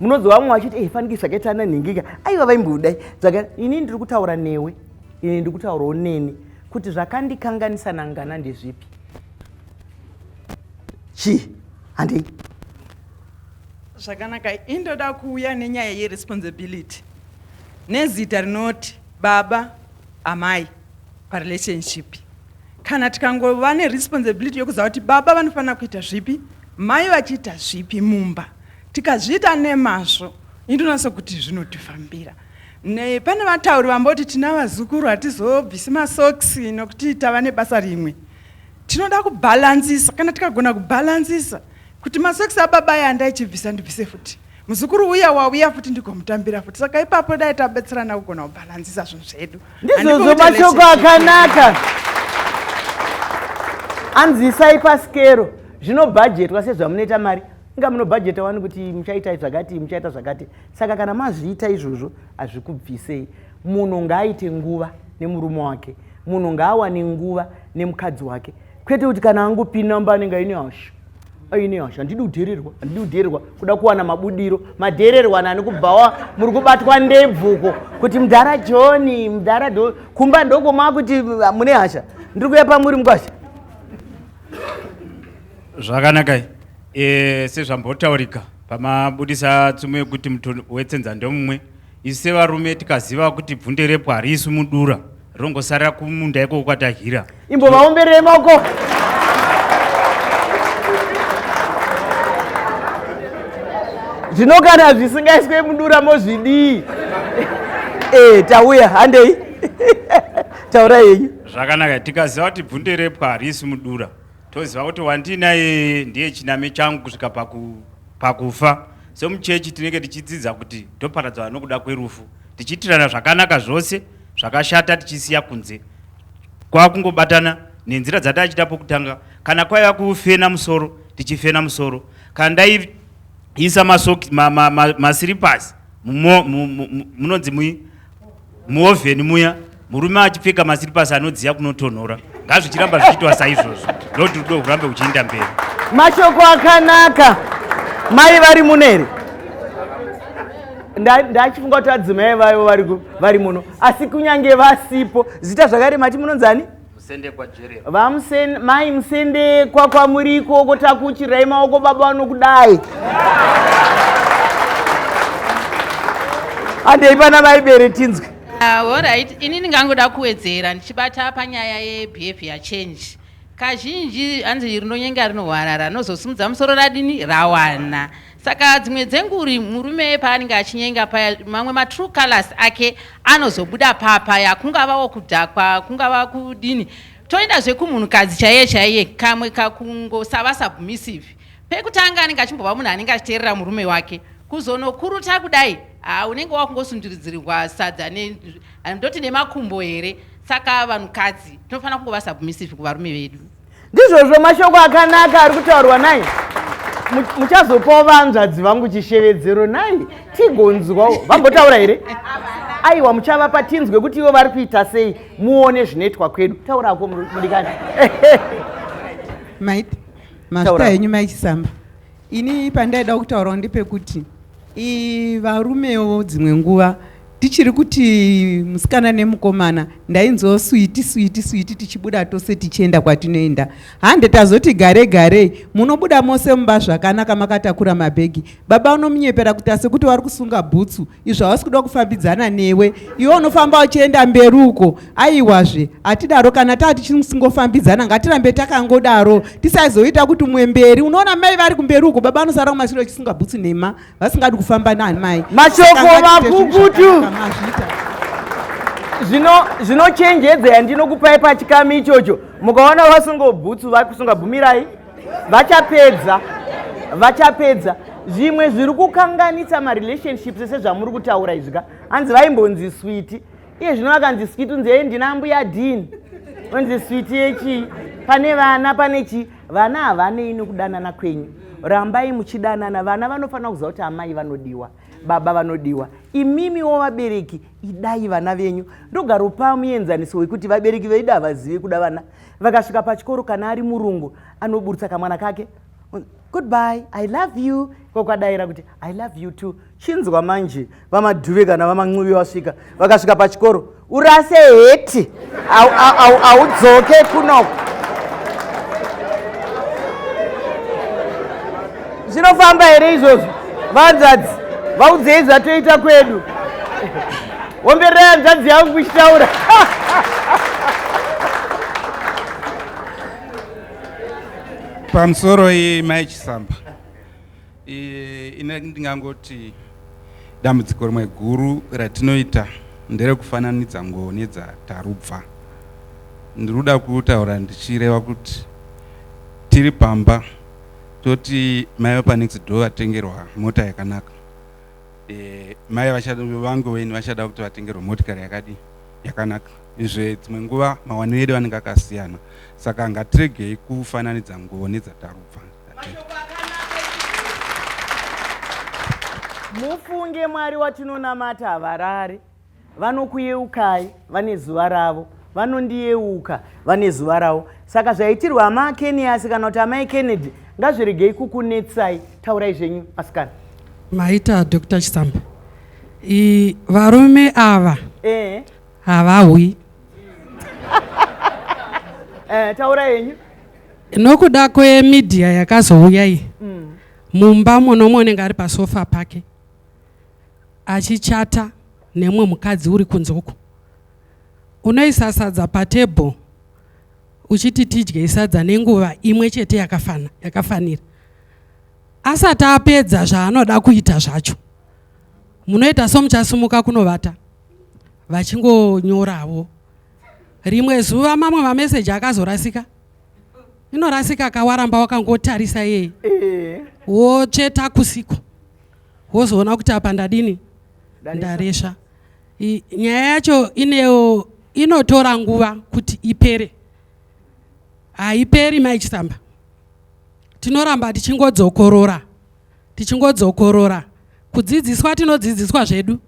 munonzwa vamwe vachiti e faniki zvakaita ana nhingika aiva vaimbudai zvaka ini ndiri kutaura newe ini ndiri kutaurawo neni kuti zvakandikanganisa nangana ndezvipi chii handei zvakanaka indoda kuuya nenyaya yeresponsibility nezita rinoti baba amai parelationship kana tikangova neresponsibility yokuziva kuti baba vanofanira kuita zvipi mai vachiita zvipi mumba Tikazviita nemazvo indonasa kuti zvinotifambira. Ne, pane vatauri vamboti tina vazukuru hatizobvisi masokisi nokuti tava nebasa rimwe. Tinoda kubhalansisa, kana tikagona kubhalansisa kuti masokisi ababa aya andaichibvisa ndibvise futi muzukuru uya wauya futi ndigomutambira futi saka ipapo dai tabetserana kugona kubhalansisa zvinhu zvedu ndizvozvo mashoko akanaka anzwisai pasikero zvinobhajetwa sezvamunoita mari inga munobhajeta wani kuti muchaita zvakati muchaita zvakati saka kana mazviita izvozvo hazvikubvisei munhu ngaaite nguva nemurume wake munhu ngaawane nguva nemukadzi wake kwete kuti kana angopinamba anenge aine hasha aine hasha handidi kudhererwa handidi kudhererwa kuda kuwana mabudiro madhererwa nani kubvawa muri kubatwa ndebvuko kuti mudhara johni mudhara do kumba ndokomaa kuti ah, mune hasha ndiri kuya pamuri mukwasha zvakanakai E, sezvambotaurika pamabudisa tsumo yekuti muto wetsenza ndomumwe isu sevarume tikaziva kuti bvunde repo hariiswi mudura rinongosarira kumunda ikoko kwatahira imbovaomberei maoko zvino kana zvisingaiswe mudura mozvidii e, tauya handei taurai yenyu zvakanaka tikaziva kuti bvunde repwa harisi mudura toziva kuti wandinaye ndiye chiname changu kusvika paku, pakufa so muchechi tinenge tichidzidza kuti toparadzana nokuda kwerufu tichiitirana zvakanaka zvose zvakashata tichisiya kunze kwakungobatana nenzira dzataichita pokutanga kana kwaiva kufena musoro tichifena musoro kana ndaiisa masiripasi munonzi mui muovheni muya murume achipfeka masiripasi anodziya kunotonhora ngazvichiramba zvichiitwa saizvozvo ndoti rudo hurambe huchiinda mberi mashoko akanaka mai vari muneri ndachifunga kuti adzimai vayo vari muno asi kunyange vasipo zita zvakare mati munonzani mai musendekwa kwamuri ikoko takuchirai maoko baba vanokudai andei pana vaibere tinzwe ah, orit ini ndingangoda kuwedzera ndichibata panyaya yebehavior change kazhinji hanzi rinonyenga rinohwarara rinozosimudza musoro radini rawana Saka dzimwe dzenguri murume paanenge achinyenga paya mamwe matrue colors ake anozobuda papaya kungavawo kudhakwa kungava kudini toenda zvekumhunhukadzi chaiye chaiye kamwe kakungosava submissive pekutanga anenge achimbova munhu anenge achiteerera murume wake kuzonokuruta kudai ha unenge wakungosunduridzirirwa sadza ndoti nemakumbo here saka vanhukadzi tinofanira kungova submissive kuvarume vedu ndizvozvo mashoko akanaka ari kutaurwa nai muchazopawo vanzvadzi vangu chishevedzero nai tigonzwawo vambotaura here aiwa muchavapa tinzwe kuti ivo vari kuita sei muone zvinoitwa kwedu taurako mudikani maiti mazita henyu maichisamba Ini pandaida kutaurawo ndepekuti i varumewo dzimwe nguva tichiri kuti musikana nemukomana ndainzwawo switi switi switi tichibuda tose tichienda kwatinoenda hande tazoti gare garei munobuda mose mumba zvakanaka makatakura mabhegi baba unomunyepera kuti asekuti wari kusunga bhutsu izvo havasi kuda kufambidzana newe iwe unofamba uchienda mberi uko aiwazve hatidaro kana taa tichiri musingofambidzana ngatirambe takangodaro tisazoita kuti mumwe mberi unoona mai vari kumberi uko baba anosara kumashure vachisunga bhutsu nhema vasingadi kufamba nani mai mashoko makukutu zvinochenjedza yandinokupai pachikami ichocho mukaona vasunga bhutsu vakusunga bvumirai vachapedza vachapedza zvimwe zviri kukanganisa marelationships ese zvamuri kutaura izvi ka hanzi vaimbonzi switi iye zvino vakanzi switi unzi ee ndina mbuya dini onzi switi yechii pane vana pane chii vana havanei nokudanana kwenyu rambai muchidanana vana vanofanira kuziva kuti amai vanodiwa baba vanodiwa imimiwo vabereki idai vana venyu ndogaropa muenzaniso wekuti vabereki vedu havazive kuda vana vakasvika pachikoro kana ari murungu anoburitsa kamwana kake goodbye i love you kokwadaira kuti i love you too chinzwa manje vamadhuve kana vamancuvi vasvika vakasvika pachikoro urase heti audzoke kunoko zvinofamba here izvozvo vanzadzi vaudzei zvatoita kwedu Womberera hanzvadzi yangu kuchitaura. Pamusoro iyi mai Chisamba. Ine ndingangoti dambudziko rimwe guru ratinoita nderekufananidza nguwo nedzatarubva. Ndiri kuda kutaura ndichireva kuti tiri pamba toti mai wepanext door vatengerwa mota yakanaka eh, mai vangu weni vachada kuti vatengerwe motikari yakadii yakanaka izve dzimwe nguva mawaniro edu anenge akasiyana saka ngatiregei kufananidza nguvo nedzatarubva mufunge mwari watinonamata havarari Vanokuyeukai vane zuva ravo, vanondiyeuka vane zuva ravo. Saka zvaitirwa amai Keniyasi kana kuti amai Kennedy ngazviregei kukunetsai, taurai zvenyu asikana. Maita Dr. Chisamba, I, varume ava eh. havawi eh, taura yenyu nokuda kwemedia yakazouya iyi mm. mumba muno munenge ari pasofa pake achichata nemumwe mukadzi uri kunze uko unoisa sadza patable uchiti tidye sadza nenguva imwe chete yakafana yakafanira asati apedza zvaanoda kuita zvacho munoita somuchasimuka kunovata vachingonyoravo rimwe zuva mamwe mameseji akazorasika inorasika kawaramba wakangotarisa yeye eh. wotsveta kusiko wozoona kuti apa ndadini ndaresva nyaya yacho inewo inotora nguva kuti ipere haiperi mai chisamba tinoramba tichingodzokorora tichingodzokorora kudzidziswa tinodzidziswa zvedu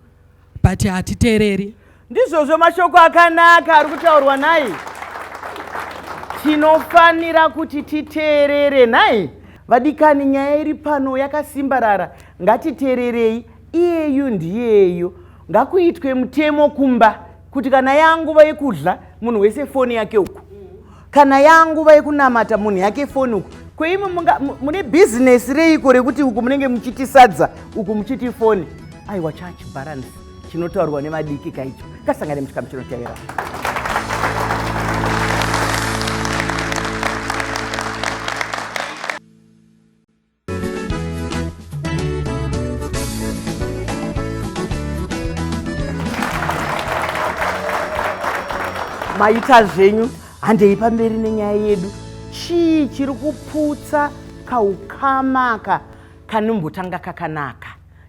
but hatitereri ndizvozvo mashoko akanaka ari kutaurwa nhai tinofanira kuti titeerere nhai vadikani nyaya iri pano yakasimbarara ngatiteererei iyeyu ndiyeyo ngakuitwe mutemo kumba kuti kana yanguva yekudya munhu wese foni yake uku kana yanguva yekunamata munhu yake foni uku kweimwe mune bhizinesi reiko rekuti uku munenge muchiti sadza uku muchiti foni aiwa church balance chinotaurwa nevadiki kaicho kasangane muchikamu chinotevera maita zvenyu handei pamberi nenyaya yedu chii chiri kuputsa kaukamaka kanombotanga kakanaka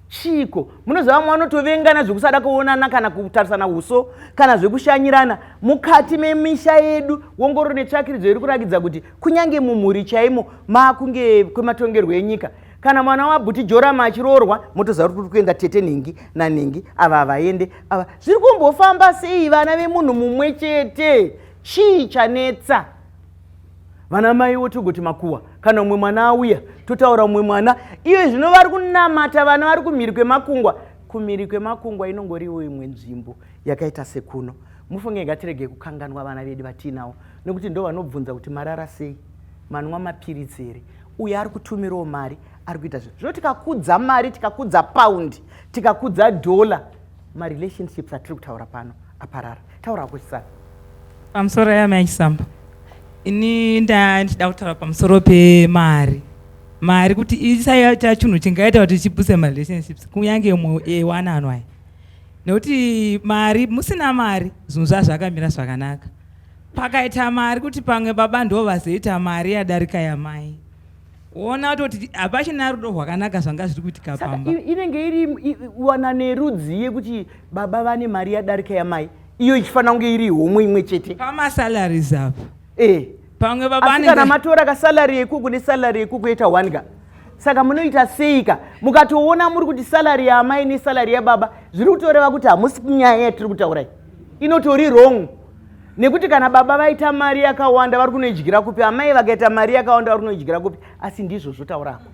chiiko munoziva vamwe vanotovengana zvekusada kuonana kana kutarisana uso kana zvekushanyirana mukati memisha yedu wongororo netsvakiridzo iri kurakidza kuti kunyange mumhuri chaimo maakunge kwematongerwo enyika kana mwana wabhuti jorama achiroorwa motoziva kuti kuri kuenda tete nhingi nanhingi ava havaende ava zviri kumbofamba sei vana vemunhu mumwe chete chii chanetsa vana maiwo togoti makuwa kana umwe mwana auya totaura umwe mwana iyo zvino vari kunamata vana vari kumhiri kwemakungwa kumhiri kwemakungwa inongoriwo imwe nzvimbo yakaita sekuno mufunge ngatirege kukanganwa vana vedu vatiinawo nekuti ndo vanobvunza kuti marara sei manwa mapiritsi here uyo ari kutumirawo mari ari kuita zvinhu zvino tikakudza mari tikakudza paundi tikakudza dhola marelationships atiri kutaura pano aparara taura hako chisana pamusoro yame achisamba ini ndaa ndichida kutaura pamusoro pemari mari kuti isaita chinhu chingaita kuti chibuse marelationships kunyange mwe ewanano aya nekuti mari musina mari zvinhu zvazvakamira zvakanaka pakaita mari kuti pamwe baba ndo vazoita mari yadarika yamai woona atoti hapachina rudo rwakanaka zvanga zviri kuitika pamba inenge iri wana nerudzi yekuti baba vane mari yadarika yamai iyo ichifanira kunge iri homwe imwe chete pamasalaries apa e pamwe babakana matora kasalary yekuku nesalary yekuku yeta one ka saka munoita seika mukatoona muri kuti salary yaamai nesalary yababa zviri kutoreva kuti hamusi kunyaya yatiri kutaurai inotori wrong nekuti kana baba vaita mari yakawanda vari kunoidyira kupi amai vakaita mari yakawanda vari kunoidyira kupi asi ndizvo zvotaurako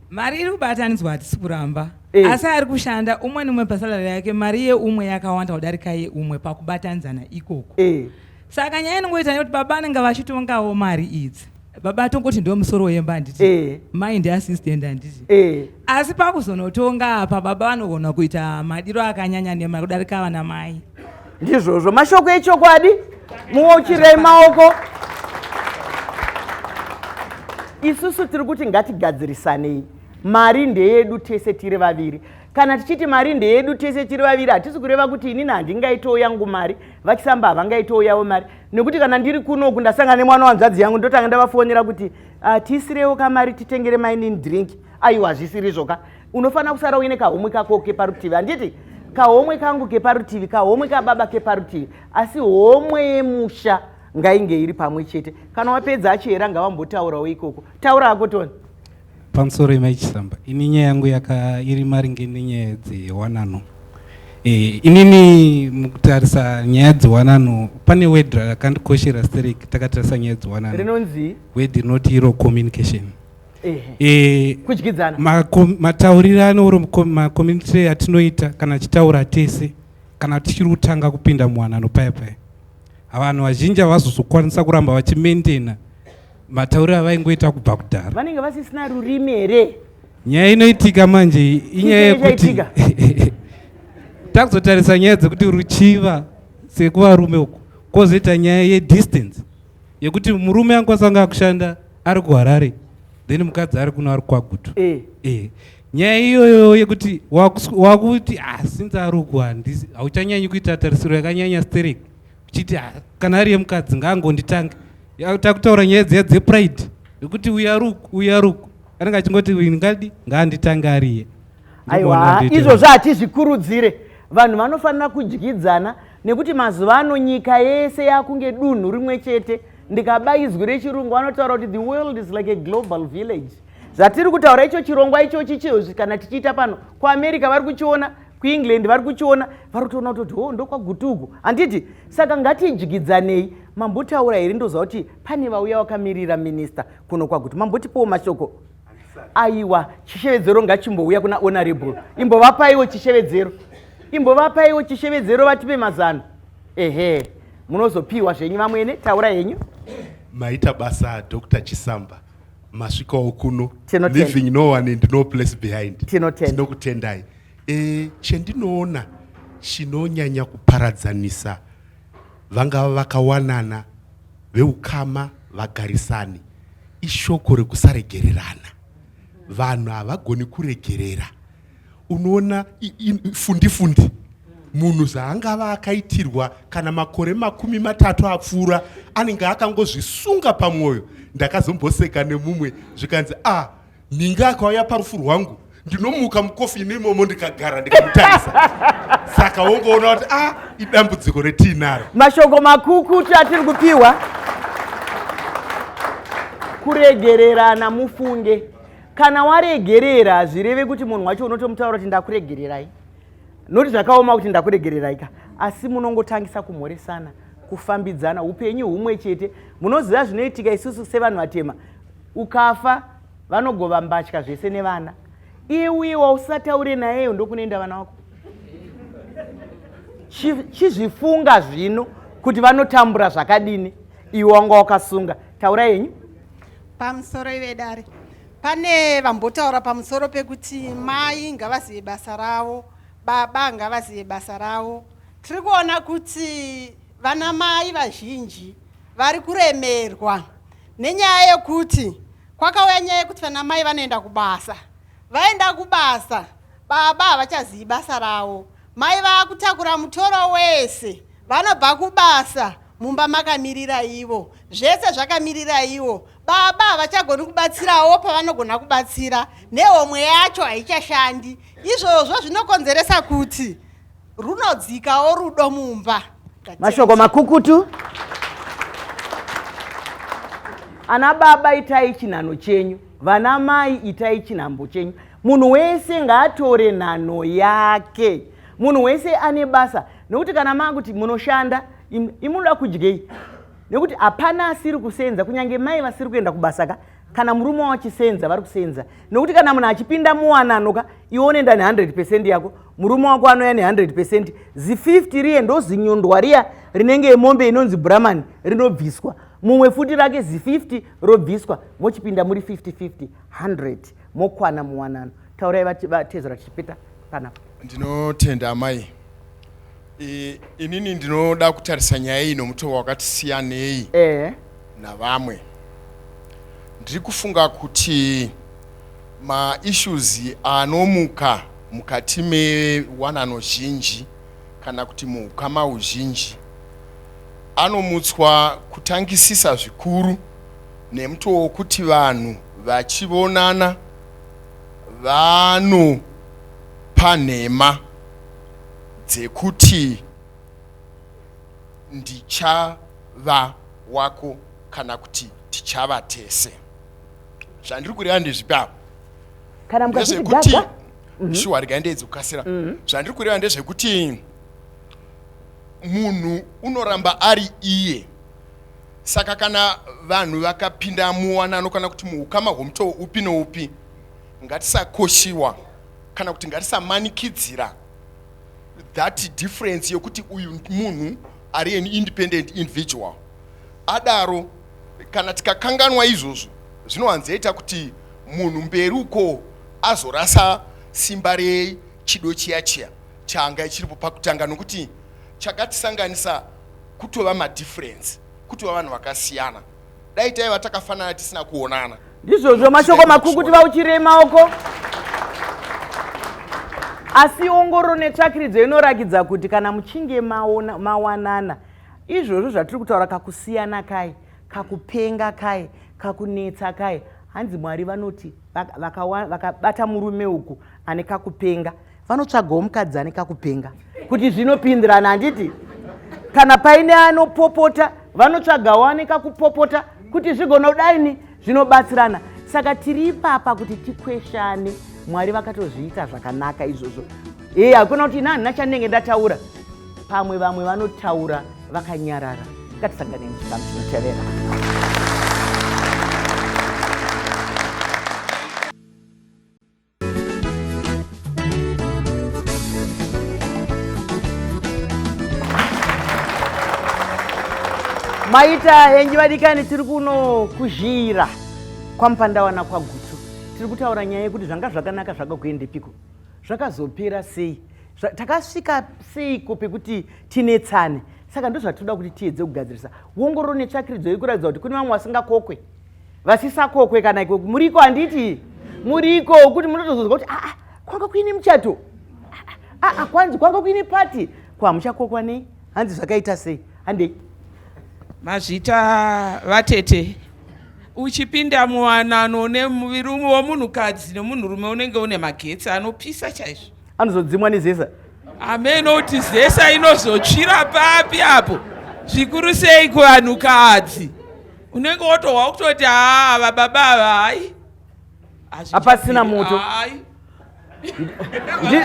mari iri kubatanidzwa hatisi kuramba e. asi ari kushanda umwe neumwe pasalari yake mari yeumwe yakawanda kudarika yeumwe pakubatanidzana ikoko e. saka nyaya inongoita nekuti baba anenge vachitongawo mari idzi baba atongoti ndiwo musoro wemba handiti eh. mai ndiassistant handiti eh. asi pakuzonotonga apa baba vanogona kuita madiro akanyanya nema kudarika vana mai ndizvozvo mashoko echokwadi muochirei maoko isusu tiri kuti ngatigadzirisanei mari ndeyedu tese tiri vaviri kana tichiti mari ndeyedu tese tiri vaviri hatisi kureva kuti inini handingaitowo yangu mari vachisamba havangaitowo yavo mari nekuti kana ndiri kunoku ndasangana nemwana wanzvadzi yangu ndotanga ndavafonera kuti ah, tiisirewo kamari titengere mainin drink aiwa hazvisirizvo ka unofanira kusara uine kahomwe kako keparutivi handiti kahomwe kangu keparutivi kahomwe kababa keparutivi asi homwe yemusha ngainge iri pamwe chete kana wapedza achihera ngavambotaurawo ikoko taura ako toni pamusoro yemai chisamba ini nyaya yangu yaka iri maringe nenyaya dzewanano e, inini mukutarisa nyaya dzewanano pane word rakandikoshera sterek takatarisa nyaya dzewanano rinonzi word rinoti iro communication e, kudyidzana mataurirano oro macommunity atinoita kana tichitaura tese kana tichiri kutanga kupinda muwanano paya paya vanhu vazhinji havazozokwanisa kuramba vachimaintaina matauriro avaingoita kubva kudhara vanenge vasisina rurimi here nyaya inoitika manje inyaya yekuti takuzotarisa nyaya dzekuti ruchiva sekuvarume uku kozoita nyaya yedistance yekuti murume angokwanisa kunge akushanda ari kuharare then mukadzi ari kuno ari kwagutu eh. eh. nyaya iyoyo yekuti wakuti ah, since ari uku hauchanyanyi kuita tarisiro yakanyanya sterek uchiti ah, kana ari yemukadzi ngaangonditange takutaura nyaya dziya dzepride yekuti uyaruku uyaruku anenge achingoti ngadi ngaanditange ariye aiwa izvozvo hatizvikurudzire vanhu vanofanira kudyidzana nekuti mazuva ano nyika yese yakunge dunhu rimwe chete ndikaba izwi rechirungu vanotaura kuti the world is like a global village zvatiri kutaura icho chirongwa ichochi chizvi kana tichiita pano kuamerica vari kuchiona kuengland vari kuchiona vari kutoona kutoti ho oh, ndokwagutuku handiti saka ngatidyidzanei mambotaura here ndoziva kuti pane vauya wakamirira minista kuno kwagutu mambotipowo mashoko aiwa chishevedzero ngachimbouya kuna honorable imbovapaiwo chishevedzero imbovapaiwo chishevedzero vatipe mazano ehe munozopiwa zvenyu vamwene taura henyu maita basa dr chisamba masvikawo kuno living no one and no place behind tinokutendai e, chendinoona chinonyanya kuparadzanisa vangava vakawanana veukama vagarisani ishoko rekusaregererana vanhu havagoni kuregerera unoona fundifundi munhu zvaangava akaitirwa kana makore makumi matatu apfuura anenge akangozvisunga pamwoyo ndakazomboseka nemumwe zvikanzi a ah, ninga akauya parufu rwangu ndinomuka mukofi ine imomo ndikagara ndikamutarisa saka wongoona kuti a ah, idambudziko retiinaro mashoko makukutu atiri kupiwa kuregererana mufunge kana waregerera hazvireve kuti munhu wacho unotomutaura kuti ndakuregererai noti zvakaoma kuti ndakuregererai ka asi munongotangisa kumhoresana kufambidzana upenyu humwe chete munoziva zvinoitika isusu sevanhu vatema ukafa vanogova mbatya zvese nevana iye uye wausataure nayeyo ndokunoenda vana wako chizvifunga zvino kuti vanotambura zvakadini iwe wanga wakasunga taura yenyu Pamusoro ive dare pane vambotaura pamusoro pekuti mai ngavazive basa ravo baba ngavazive basa ravo tiri kuona kuti vana mai vazhinji vari kuremerwa nenyaya yekuti kwakauya nyaya yekuti vana mai vanoenda kubasa vaenda kubasa baba havachazivi basa ravo mai vakutakura mutoro wese vanobva kubasa Mumba makamiriraiwo. Zvese zvakamiriraiwo. Baba havachagoni kubatsirawo pavanogona kubatsira. Nehomwe yacho haichashandi. Izvozvo zvinokonzeresa kuti runodzikawo rudo mumba. Mashoko makukutu. Ana baba itai chinhano chenyu. Vana mai itai chinhambo chenyu. Munhu wese ngaatore nhano yake. Munhu wese ane basa. nekuti kana makuti munoshanda imunoda kudyei nekuti hapana asiri kusenza kunyange mai vasiri kuenda kubasa ka kana murume wachisenza vari kusenza nekuti kana munhu achipinda muwanano ka iwe unoenda ne100 pecent yako murume wako anouya ne100 pecent zi50 riye ndozinyondwa riya rinenge yemombe inonzi bramani rinobviswa mumwe futi rake zi50 robviswa mochipinda muri 50 50 100 mokwana muwanano taurai vatezera tichipeta panapa ndinotenda amai e, inini ndinoda kutarisa nyaya iyi nomutoo wakati siyanei e. navamwe ndiri kufunga kuti maissues anomuka mukati mewanano zhinji kana kuti muukama uzhinji anomutswa kutangisisa zvikuru nemutoo wokuti vanhu vachivonana vanopa nhema dzekuti ndichava wako kana kuti tichava tese zvandiri kureva ndezvipi apo kana mukazvikuti gaga mhm. shuwa regai ndeedzi kukasira mhm. zvandiri kureva ndezvekuti munhu unoramba ari iye Saka kana vanhu vakapinda muwanano kana kuti muukama hwomutoo upi noupi, ngatisakoshiwa kana kuti ngatisamanikidzira that difference yokuti uyu munhu ari an independent individual. Adaro, kana tikakanganwa izvozvo zvinowanzoita kuti munhu mberi uko azorasa simba rechido chiya chiya chaanga chiripo pakutanga nokuti chakatisanganisa kutova madifference kutova vanhu vakasiyana dai taiva takafanana tisina kuonana ndizvozvo mashoko makuru kuti vauchirei maoko asi ongoro netsvakiridzo inorakidza kuti kana muchinge maona, mawanana izvozvo zvatiri kutaura kakusiyana kai kakupenga kai kakunetsa kai hanzi mwari vanoti vakabata vaka, vaka murume uku ane kakupenga vanotsvagawo mukadzi ane kakupenga kuti zvinopindirana handiti kana paine anopopota vanotsvagawo ane kakupopota kuti zvigonodaini zvinobatsirana saka tiri ipapa kuti tikweshane mwari vakatozviita zvakanaka izvozvo ee hakuna kuti ina handina chandinenge ndataura pamwe vamwe vanotaura vakanyarara ngatisangane nechikamu chinotevera maita henji vadikani tiri kuno kuzhira kwamupandawana kwagutu tiri kutaura nyaya yekuti zvanga zvakanaka zvakakuendepiko zvakazopera sei takasvika seiko pekuti tinetsane saka ndozvatinoda kuti tiedze kugadzirisa wongororo netsvakiridzo yekuratidzwa kuti kune vamwe vasingakokwe vasisakokwe kana iko muriko handiti muriko kuti munotozonzwa kuti aa kwanga kuine muchato aa kwanzi kwanga kuine pati kwamuchakokwa nei hanzi zvakaita sei handei mazvita vatete uchipinda muwanano nemurume womunhukadzi nemunhurume unenge une magetsi anopisa chaizvo anozodzimwa nezesa amene kuti zesa inozotsvira papi apo zvikuru sei kuvanhukadzi unenge wotohwa kutoti haa ava baba ava hai hapasina moto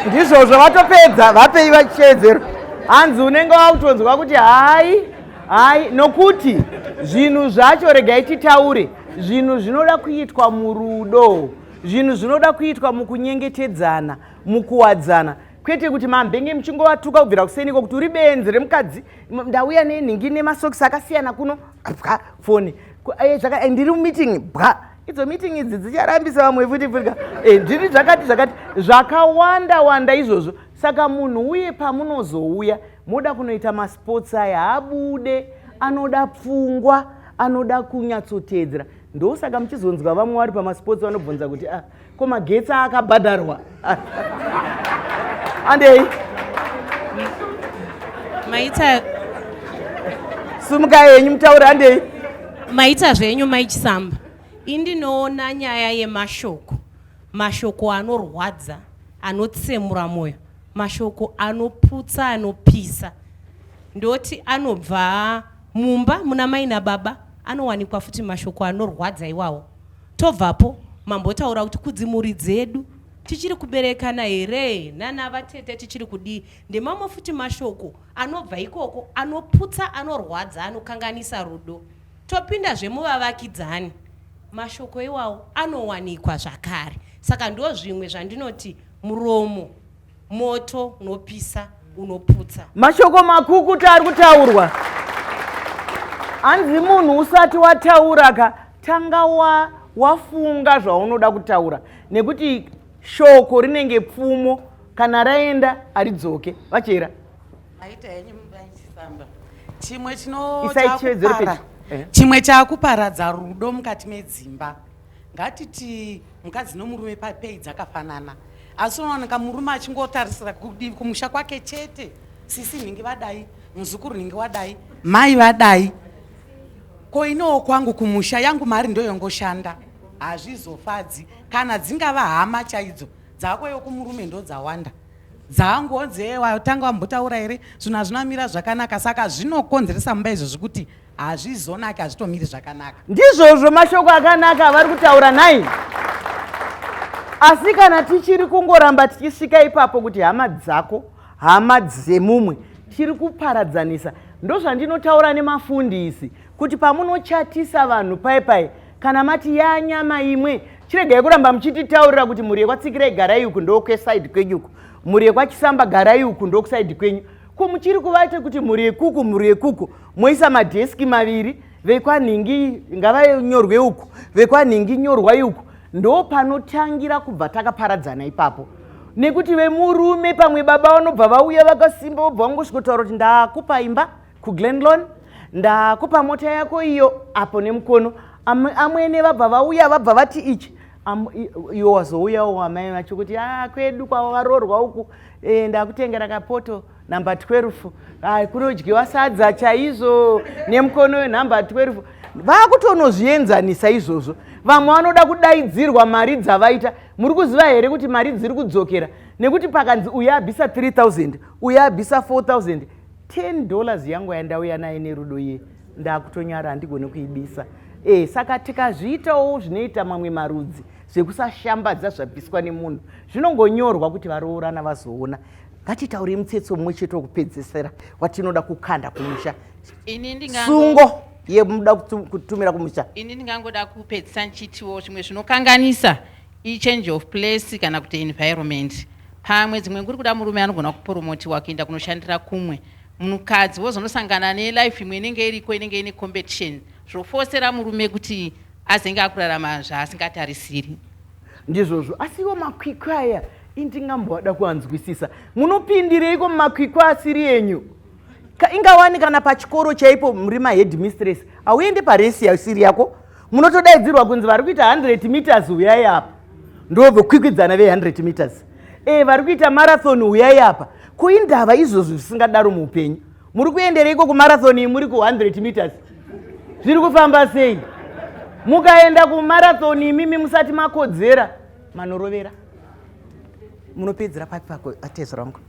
ndizvozvo vatopedza vapei vachiteedzero hanzi unenge wakutonzwa kuti hai hai nokuti zvinhu zvacho regai titaure zvinhu zvinoda kuitwa murudo zvinhu zvinoda kuitwa mukunyengetedzana mukuwadzana kwete kuti mambenge muchingovatuka kubvira kuseniko kuti uri benzi remukadzi ndauya nenhingi nemasokisi akasiyana kuno bwa foni eh, eh, ndiri mumeeting bwa idzo meeting idzi dzicharambisa vamwe futi futi eh, ndiri zvakati zvakati zvakawanda wanda izvozvo saka munhu uye pamunozouya moda kunoita masports aya haabude anoda pfungwa anoda kunyatsoteedzera ndosaka muchizonzwa vamwe vari pamasports vanobvunza kuti ah ko magetsi akabhadharwa andei maita sumukai henyu mutaure andei maita zvenyu maichisamba indinoona nyaya yemashoko mashoko anorwadza anotsemura mwoyo mashoko anoputsa anopisa ndoti anobva mumba muna mai nababa anowanikwa futi mashoko anorwadza iwawo Tobvapo mambotaura kuti kudzimhuri dzedu tichiri kuberekana here nana vatete tichiri kudii ndemamwe futi mashoko anobva ikoko anoputsa anorwadza anokanganisa rudo topinda zvemuvavakidzani mashoko iwawo anowanikwa zvakare saka ndo zvimwe zvandinoti muromo moto unopisa unoputsa mashoko makukuta ari kutaurwa hanzi munhu usati wataura ka tanga wa wafunga zvaunoda kutaura nekuti shoko rinenge pfumo kana raenda haridzoke vachera aita henyu mudaichifamba chimwe chinochakupara eh. chimwe chakuparadza rudo mukati medzimba Ngatiti mukadzi nomurume papei dzakafanana asi unowanika murume achingotarisira kudivi kumusha kwake chete sisi nhingi vadai muzukuru nhingi wadai mai vadai ko inowo kwangu kumusha yangu mari ndoyongoshanda hazvizofadzi kana dzingava hama chaidzo dzako yokumurume ndodzawanda dzangonzi watanga wambotaura here zvinhu hazvinamira zvakanaka saka zvinokonzeresa mumba izvozvi kuti hazvizonaki hazvitomiri zvakanaka ndizvozvo mashoko akanaka avari kutaura nhai asi kana tichiri kungoramba tichisvika ipapo kuti hama dzako hama dzemumwe tiri kuparadzanisa ndozvandinotaura nemafundisi kuti pamunochatisa vanhu pai pai kana mati yanyama imwe chiregai kuramba muchititaurira kuti mhuri yekwatsikirai garai uku ndokwesaidi kwenyuku mhuri yekwachisamba garai uku ndokusaidi kwenyu ko muchiri kuvaita kuti mhuri yekuku mhuri yekuku moisa madheski maviri vekwanhingi ngavanyorwe uku vekwanhingi nyorwai uku ndo panotangira kubva takaparadzana ipapo nekuti vemurume pamwe baba vanobva vauya vakasimba vobva vangosvikotaura kuti ndakupa imba kuglenlon ndakupa mota yako iyo apo nemukono amwene vabva vauya vabva vati ichi iwo wazouyawo wamai vacho kuti a ah, kwedu kwavo varoorwa uku Eh, ndakutengera kapoto number 12 ah, kunodyiwa sadza chaizvo nemukono wenumber 12 vakutonozvienzanisa izvozvo vamwe vanoda kudaidzirwa mari dzavaita muri kuziva here kuti mari dziri kudzokera nekuti pakanzi uye abisa 3000 uye abisa 4000 10 dollars yangu yandauya naye nerudo iye ndakutonyara handigone kuibisa e, saka tikazviitawo zvinoita mamwe marudzi zvekusashambadza zvabviswa nemunhu zvinongonyorwa kuti varoorana vazoona ngatitaurei mutsetse umwe chete wekupedzesera watinoda kukanda kumusha sungo yemuda kutumira kumusha ini ndingangoda kupedzisa ndichitiwo zvimwe zvinokanganisa ichange of place kana kuti environment pamwe dzimwe nguri kuda murume anogona kuporomotiwa kuenda kunoshandira kumwe munhukadzi wozonosangana nelife imwe inenge iriko inenge ine competition zvofosera murume kuti azenge akurarama zvaasingatarisiri ndizvozvo asi iwo makwikwi aya indingamboada kuanzwisisa munopindireiko mumakwikwi asiri enyu ingawani kana pachikoro chaipo muri maheadmistress hauende paresi yasiri yako munotodaidzirwa kunzi vari kuita 100 meters uyai apa ndovokwikwidzana ve100 meters e vari kuita marathon uyai apa ko indava izvozvo zvisingadaro muupenyu muri kuendereiko kumarathon iyi muri ku 100 meters zviri kufamba sei mukaenda kumarathon imimi musati makodzera manorovera munopedzera papi patezo rangu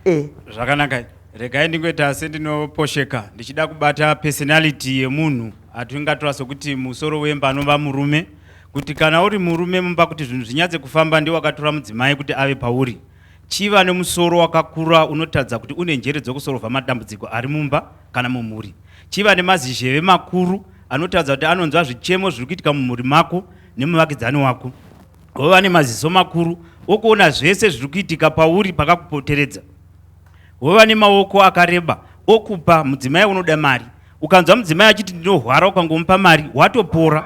e zvakanaka regai ndingoita sendinoposheka ndichida kubata personality yemunhu atingatora sokuti musoro wemba anova murume kuti kana uri murume mumba kuti zvinhu zvinyatse kufamba ndiwakatora mudzimai kuti ave pauri Chiva nemusoro wakakura unotaridza kuti une njere dzokusorovha madambudziko ari mumba kana mumhuri. Chiva nemazizheve makuru anotaridza kuti anonzwa zvichemo zviri kuitika mumhuri mako nemuvakidzani wako. Hova nemaziso makuru okuona zvese zviri kuitika pauri pakakupoteredza. Hova nemaoko akareba okupa mudzimai unoda mari Ukanzwa mudzimai achiti ndinohwara ukangomupa mari watopora.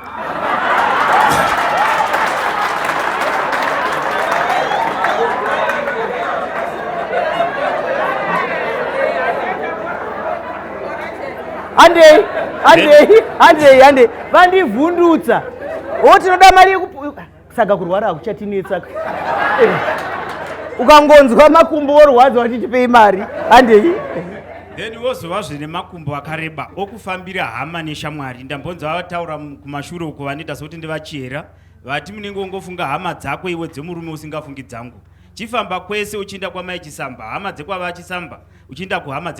Handei, handei, handei, handei. Vandivhundutsa. Wo tinoda mari yekup saka kurwara hakuchatinetsa eh, ukangonzwa makumbo worwadza wachitipei mari handei then wozova zvine makumbo akareba okufambira hama neshamwari ndambonzi vavataura kumashure uko vanoita sekuti ndivachiyera vati munenge wongofunga hama dzako iwe dzemurume usingafungi dzangu chifamba kwese uchiinda kwamai chisamba hama dzekwava chisamba uchiinda kuhama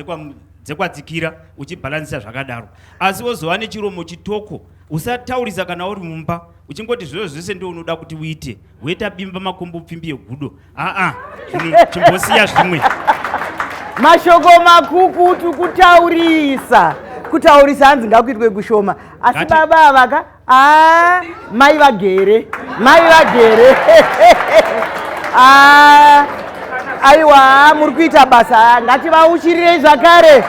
dzekwadzikira uchibhalansisa zvakadaro asi wozova nechiromo chitoko usataurisa kana uri mumba uchingoti zviro zvese ndo unoda kuti uite woita bimba makumbo pfimbi yegudo aa chimbosiya zvimwe mashoko makukutu kutaurisa kutaurisa hanzi ngakuitwe kushoma asi baba avaka a mai vagere mai vagere a aiwa muri kuita basa ngativauchirirei zvakare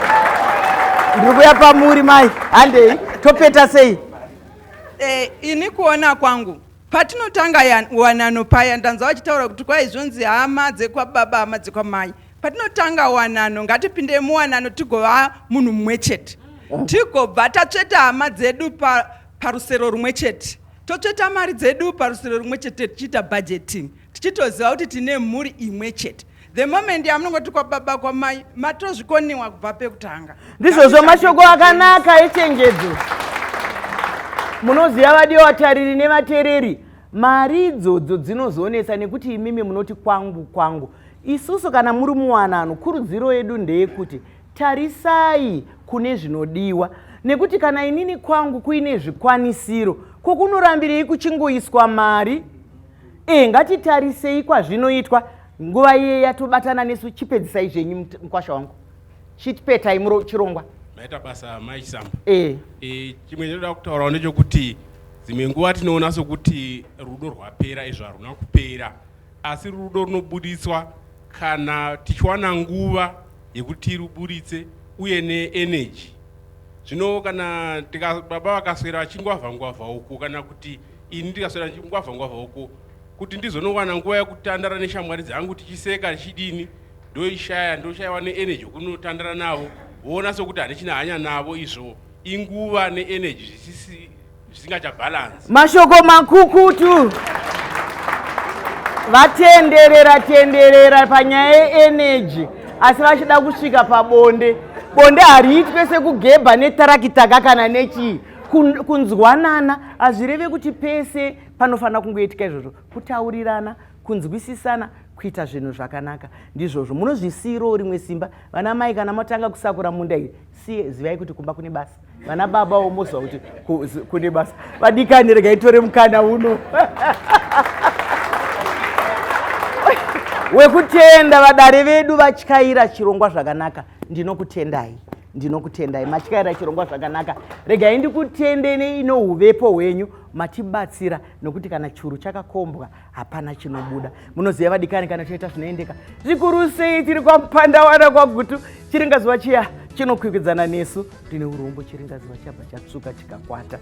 ndiri kuya pamuri mai handei topeta sei Eh, ini kuona kwangu patinotanga ya- wanano paya ndanzwa vachitaura kuti kwai zvonzi hama dzekwababa hama dzekwamai patinotanga wanano ngatipinde muwanano tigova munhu mumwe chete tigobva tatsveta hama dzedu pa- parusero rumwe chete totsveta mari dzedu parusero rumwe chete tichiita budgeting tichitoziva kuti tine mhuri imwe chete the moment yamunongoti kwababa kwamai matozvikoniwa kubva pekutanga ndizvozvo mashoko akanaka echenjedzo munoziva vadiwa vatariri nevatereri mari idzodzo dzinozoonesa nekuti imimi munoti kwangu kwangu isusu kana muri muwanano kurudziro yedu ndeyekuti tarisai kune zvinodiwa nekuti kana inini kwangu kuine zvikwanisiro kwokunorambirei kuchingoiswa mari e ngatitarisei kwazvinoitwa nguva iye yatobatana nesu chipedzisai zvenyu mukwasha wangu chitipetai muro chirongwa maita basa mai chisamba e. e, chimwe chinoda kutaurawo ndechokuti dzimwe nguva tinoona sokuti rudo rwapera izvo haruna kupera asi rudo runobuditswa kana tichiwana nguva yekuti ruburitse uye neenergy zvino kana baba vakaswera vachingwavha ngwavha uku kana kuti ini ndikaswera ndichingwavha ngwavha uko kuti ndizonowana nguva yekutandara neshamwari dzangu tichiseka tichidini ndoishaya ndoshaiwa neenergy yokunotandara navo voona sokuti handichina hanya navo izvo inguva neenergy zvisisi zvisingachabhalansi mashoko makukutu vatenderera tenderera panyaya yeenergy asi vachida kusvika pabonde bonde hariitwe sekugebha netarakitaka kana nechii kunzwanana hazvireve kuti pese panofanira kungoitika izvozvo kutaurirana kunzwisisana kuita zvinhu zvakanaka ndizvozvo munozvisiirawo rimwe simba vana mai kana matanga kusakura munda iyi siye zivai kuti kumba kune basa vana baba wo moziva kuti kune basa vadikani rega itore mukana uno wekutenda vadare vedu vatyaira chirongwa zvakanaka ndinokutendai ndinokutendai matyaira chirongwa zvakanaka regai ndikutende neino uvepo hwenyu matibatsira nokuti kana churu chakakombwa hapana chinobuda munoziva vadikani kana toita zvinoendeka zvikuru sei tiri kwamupandawana kwagutu chiringazuva chiya chinokwikidzana nesu tine urombo chiringazuva chabva chatsvuka chikakwata